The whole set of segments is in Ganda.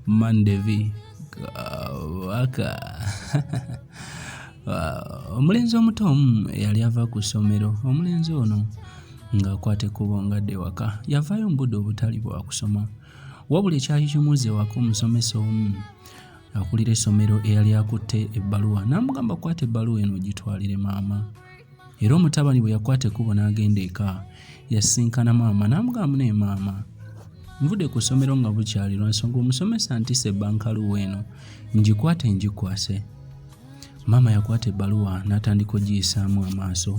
mandevi kabaka omulenzi omuto omu eyali ava ku ssomero omulenzi ono ng'akwata ekkubo ngadde ewaka yavaayo mu budde obutali bwa kusoma wabula ekyali kimuuza ewaka omusomesa omu akulira essomero eyali akutte ebbaluwa n'amugamba kwata ebbaluwa eno ogitwalire maama Era omutabani bwe yakwata ekkubo n'agenda eka, yasisinkana maama n'amugamba naye maama nvudde ku ssomero nga bukyali lwa nsonga omusomesa ntise ebbankaluwa eno ngikwate ngikwase. Maama yakwata ebbaluwa n'atandika ogiyisaamu amaaso.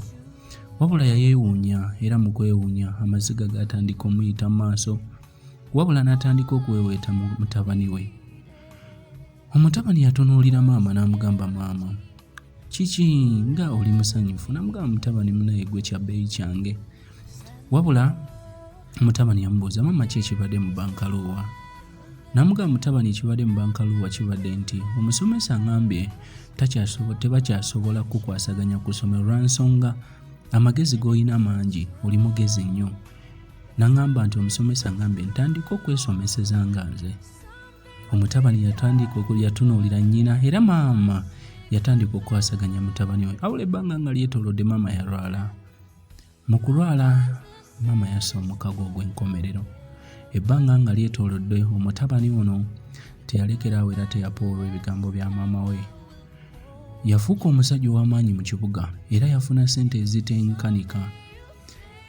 Wabula yayeewuunya era mu kwewuunya amaziga gaatandika omuyita mu maaso wabula n'atandika okuweeweeta mu mutabani we. Omutabani yatunuulira maama n'amugamba, maama kiki nga oli musanyufu? Namugamba, mutabani munaye gwe kya bbeeyi kyange. Wabula mutabani yamubuuza, maama ki ekibadde mu bankaluuwa? Namugamba, mutabani ekibadde mu bankaluuwa kibadde nti omusomesa ngambye tebakyasobola kukwasaganya ku ssomero lwa nsonga amagezi g'olina mangi oli mugezi nnyo. Nangamba nti omusomesa ngambye ntandika okwesomeseza nga nze. omutabani yatandika yatunuulira nnyina era maama yatandika okukwasaganya mutabani we awula ebbanga nga lyetolodde maama yalwala mu kulwala maama yassa omukago ogw'enkomerero ebbanga nga lyetolodde omutabani ono teyalekeraawo era teyapoolwa ebigambo bya maama we yafuuka omusajja ow'amaanyi mu kibuga era yafuna ssente ezitenkanika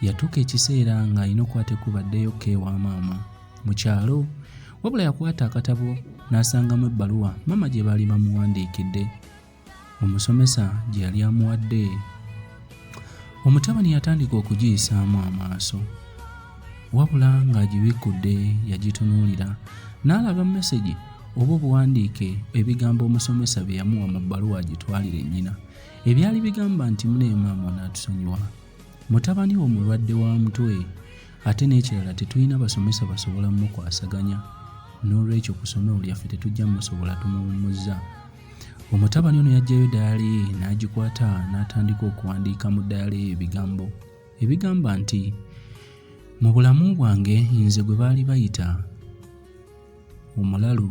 yatuuka ekiseera ng'alina okukwata ekkubo addeyo ko ewa maama mu kyalo wabula yakwata akatabo n'asangamu ebbaluwa maama gye baali bamuwandiikidde omusomesa gye yali amuwadde omutabani yatandika okugiyisaamu amaaso wabula ng'agibikkudde yagitunuulira n'alaba mesegi oba obuwandiike ebigambo omusomesa bye yamuwa mu bbaluwa agitwalire nnyina ebyali bigamba nti muneemaama onaatusonyiwa mutabani wo mulwadde wa mutwe ate n'ekirala tetulina basomesa basobola mukwasaganya n'olwekyo ku somero lyaffe tetujja musobola tumuwummuzza omutabani ono yajjayo dayali ye n'agikwata n'atandika okuwandiika mu dayali ye ebigambo ebigamba nti mu bulamu bwange nze gwe baali bayita Omulalu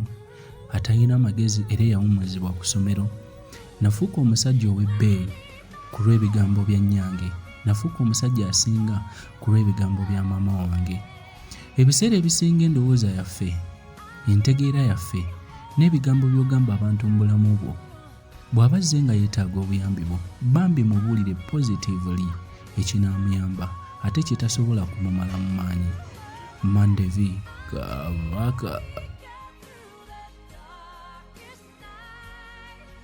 atalina magezi era eyawummuzibwa ku ssomero. Nafuuka omusajja ow'ebbeeyi ku lw'ebigambo bya nnyange. Nafuuka omusajja asinga ku lw'ebigambo bya maama wange. Ebiseera ebisinga endowooza yaffe, entegeera yaffe, n'ebigambo by'ogamba abantu mu bulamu bwo, bw'aba azze nga yeetaaga obuyambi bwo bambi mubuulire positively ekinaamuyamba ate kye tasobola kumumala mu maanyi mandevi kabaka